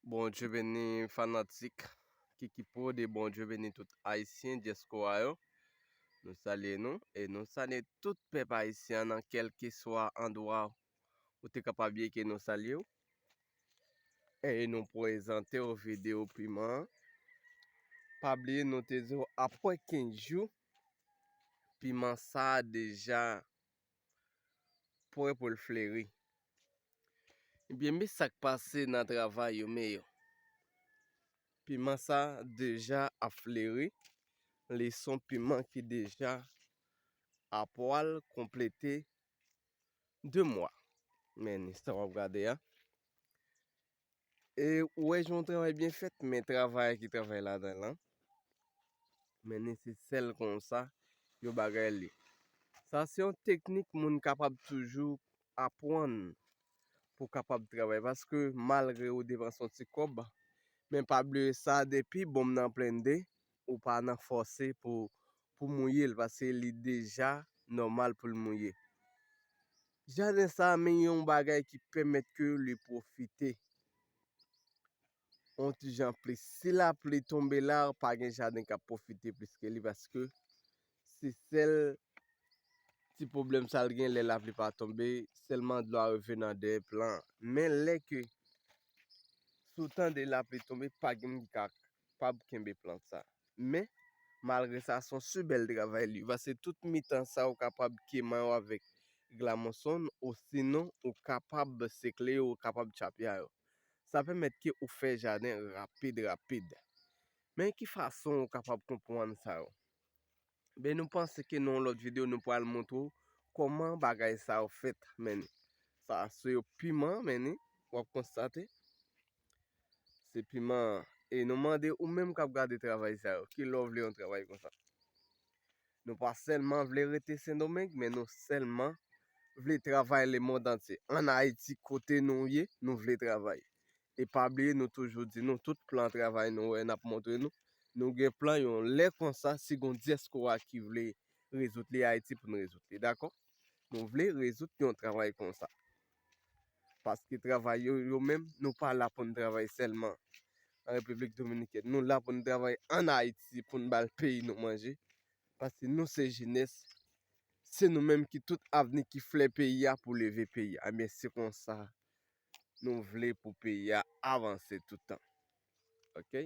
Bon Dieu beni fanatik Kiki Prod e bon Dieu beni tout Ayisyen diaspora yo. Nou salye nou e nou salye tout pèp Ayisyen nan kelkeswa andwa ou te kapab ye ke nou salye ou. E nou prezante ou video piman an. Pa bliye nou te di ou apre 15 jou piman sa deja Pwè pou l fleri. Ebyen me sak pase nan travay yo me yo. Piman sa deja ap fleri. Li son piman ki deja a pwal konplete 2 mwa. Men ni sa wap gade a. E ou wè jan yon travay byen fèt men travayè ki travay ladan l lan mennen se sèl kon sa yo bagay li. Sa se yon teknik moun kapab toujou apwann pou kapab travay paske malgre ou depanse yon ti kòb men pa bliye sa depi bonm nan plende ou pa nan fòse pou mouye l paske li deja nòmal pou l mouye. Jaden sa a men yon bagay ki pèmèt ke li pwofite yon ti jan plis. Si lapli tonbe la, pa gen jaden k ap pwofite plis ke li paske se sèl ti pwoblèm sa l gen lè lapli pa tonbe, sèlman dlo a rive nan dèyè plan an. Men lè ke si w tande lapli tonbe, pa gen moun ki kapab kenbe plant sa a. Men, malgre sa, s on si bèl travay li. Pase tout mitan sa ou kapab kema yo avèk glamonson osinon ou kapab sekle yo, ou kapab tchapya yo. Sa pèmèt ke ou fè jaden rapid rapid. Men ki fason ou kapab konpwann sa yo? Ben nou panse ke nan yon lòt video nou pral montre ou kòman bagay sa yo fèt men ni. Sa se yo piman men ni, w ap konstate. Se piman, e nou mande ou menm k ap gade travay sa yo, ki lè w vle yon travay konsa. Nou pa sèlman vle rete Sendomeng, men nou sèlman vle travay lemond antye. An Ayiti kote nou ye, nou vle travay. E pa bliye nou toujou di nou tout plan travay nou wè nap montre nou, nou gen plan yon lè konsa si gon diaspora ki vle rezoud li Ayiti pou nou rezoud li dakò. Nou vle rezoud yon travay konsa. Paske travay yo yo menm nou pa la pou nou travay sèlman an Repiblik Dominikèn. Nou la pou nou travay an Ayiti pou nou bal peyi nou manje. Paske nou se jenès, se nou menm ki tout avni ki flè peyi a pou leve peyi a. Ebyen se konsa nou vle pou peyi a avanse toutan. Ok.